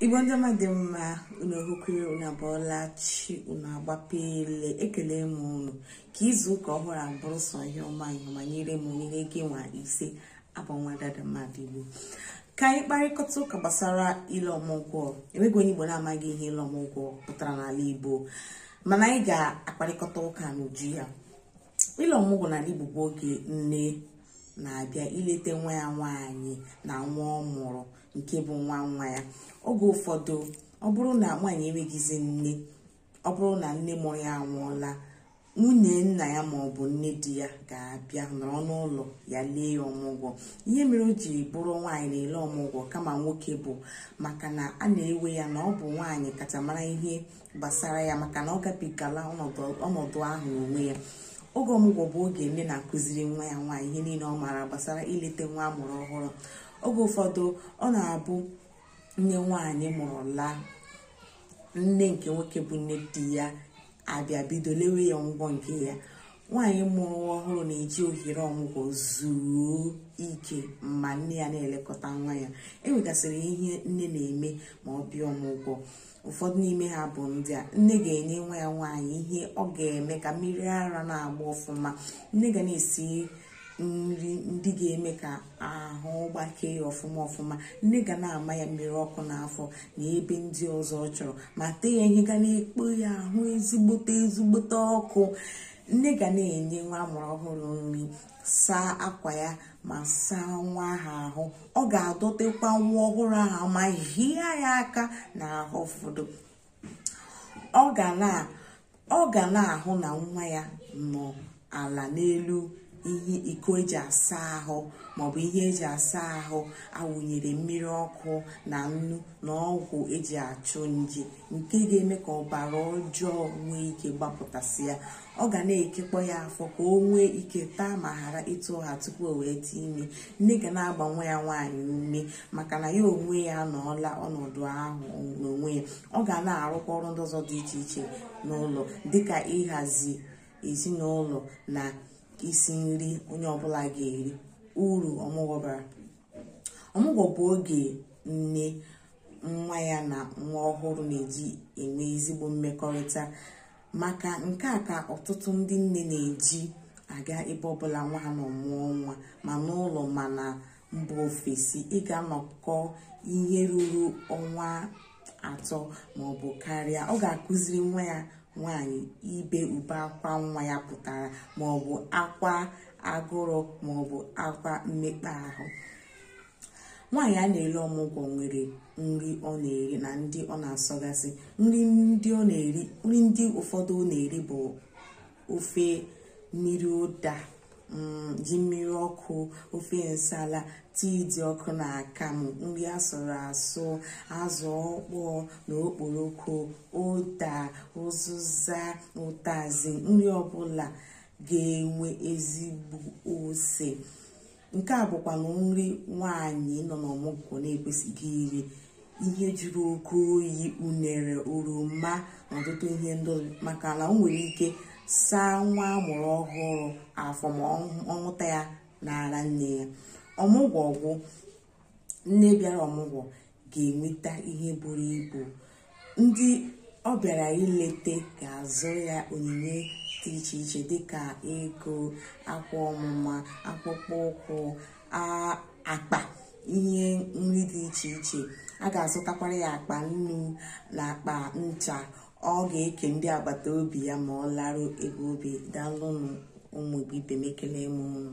igbo ndị ọma dị mma unu hụkwere unu abụọla chi unu agbapele ekele m unu ka izu ụka ọhụrụ a bụrụ sọ ihe ọma ihe ọma nyere m nyere gị nwa ise abụ m nwada ada mmadụ igbo ka anyị kparịkọta ụka gbasara ile ọmụgwọ enweghị onye igbo na-amaghị ihe ile ọmụgwọ pụtara n'ala igbo mana anyị ga-akparịkọta ụka n'uju ya ile ọmụgwọ n'ala igbo bụ oge nne na-abịa ilete nwa ya nwaanyị na nwa ọ mụrụ nke bụ nwa nwa ya oge ụfọdụ ọ bụrụ na nwaanyị enweghịzi nne ọ bụrụ na nne mụrụ ya anwụọla nwunye nna ya ma ọ bụ nne di ya ga-abịa nọrọ n'ụlọ ya lee ya ọmụgwọ ihe mere o ji bụrụ nwaanyị na-ele ọmụgwọ kama nwoke bụ maka na a na-ewe ya na ọ bụ nwaanyị kacha mara ihe gbasara ya maka na ọ gabigala ọnọdụ ahụ n'onwe ya oge ọmụgwọ bụ oge nne na-akụziri nwa ya nwaanyị ihe niile ọ maara gbasara ilete nwa amụrụ ọhụrụ oge ụfọdụ ọ na-abụ nne nwaanyị ma ọ laa nne nke nwoke bụ nne di ya abịa bido lewe ya ọmụgwọ nke ya nwaanyị mụrụ ọhụrụ na-eji ohere ọmụgwọ zuo ike ma nne ya na-elekọta nwa ya enwegasịrị ihe nne na-eme ma ọ bịa ọmụgwọ ụfọdụ n'ime ha bụ ndị a nne ga-enye nwa ya nwaanyị ihe ọ ga-eme ka mmiri ara na-agba ọfụma nne ga na-esi nri ndị ga-eme ka ahụ gbakee ya ọfụma ọfụma nne ga na-ama ya mmiri ọkụ n'afọ na ebe ndị ọzọ ọ chọrọ ma tee ya ihe ga na-ekpo ya ahụ ezigbote ezigbote ọkụ nne ga na-enye nwa amụrụ ọhụrụ nri saa akwa ya ma saa nwa ahụ ahụ ọ ga-adọtịkwa nwa ọhụrụ ahụ ma hịa ya aka n'ahụ ụfọdụ ọ ga na ọ ga na-ahụ na nwa ya nọ ala n'elu ihe iko eji asa ahụ maọbụ ihe eji asa ahụ awụnyere mmiri ọkụ na nnu na ọgwụ eji achụ nje nke ga-eme ka ọbara ọjọọ nwee ike gbapụtasịa ọ ga na-ekekpọ ya afọ ka o nwee ike taa ma hara etu ọ ha tupu o wee tụa ime nne ga na-agba nwa ya nwaanyị ume maka na ya onwe ya anọọla ọnọdụ ahụ n'onwe ya ọ ga na-arụkwa ọrụ ndị ọzọ dị iche iche n'ụlọ dịka ịhazi ezinụlọ na isi nri onye ọbụla ga-eri uru ọmụgwọ bara ọmụgwọ bụ oge nne nwa ya na nwa ọhụrụ na-eji enwe ezigbo mmekọrịta maka nke a ka ọtụtụ ndị nne na-eji aga ebe ọbụla nwa ha nọ mụọ nwa ma n'ụlọ ma na mba ofesi ịga anọkọ ihe ruru ọnwa atọ maọbụ karịa ọ ga-akụziri nwa ya nwaanyị ihe ube akwa nwa ya pụtara maọbụ akwa agụrụ maọbụ akwa mmekpa ahụ nwaanyị a na-ele ọmụgwọ nwere nri ọ na-eri na ndị ọ na-asọgasị nri ndị ụfọdụ ọ na-eri bụ ofe mmiri ụda ji mmiri ọkụ ofe nsala tii dị ọkụ na akamụ nri asụrụ asụ azụ ọkpọọ na okporoko ụda ụzụza ụtazị nri ọbụla ga-enwe ezigbo ose nke a bụkwanụ nri nwaanyị nọ n'ọmụgwọ na-ekwesịghị iri ihe juru oke oyi unere oroma na ọtụtụ ihe ndị maka na o nwere ike saa nwa amụrụ ọhụrụ afọ ma ọ ṅụta ya n'ara nne ya ọmụgwọ gwụ nne bịara ọmụgwọ ga-enweta ihe buru ibu ndị ọ bịara ilete ga-azụ ya onyinye dị iche iche dịka ego akwa ọmụma akpụkpọ ụkwụ a- akpa ihe nri dị iche iche a ga-azụtakwara ya akpa nnu na akpa ncha ọ ga-eke ndị agbata obi ya ma ọ laru ebe o bi daalụnụ ụmụ igbo ibe m ekele m unu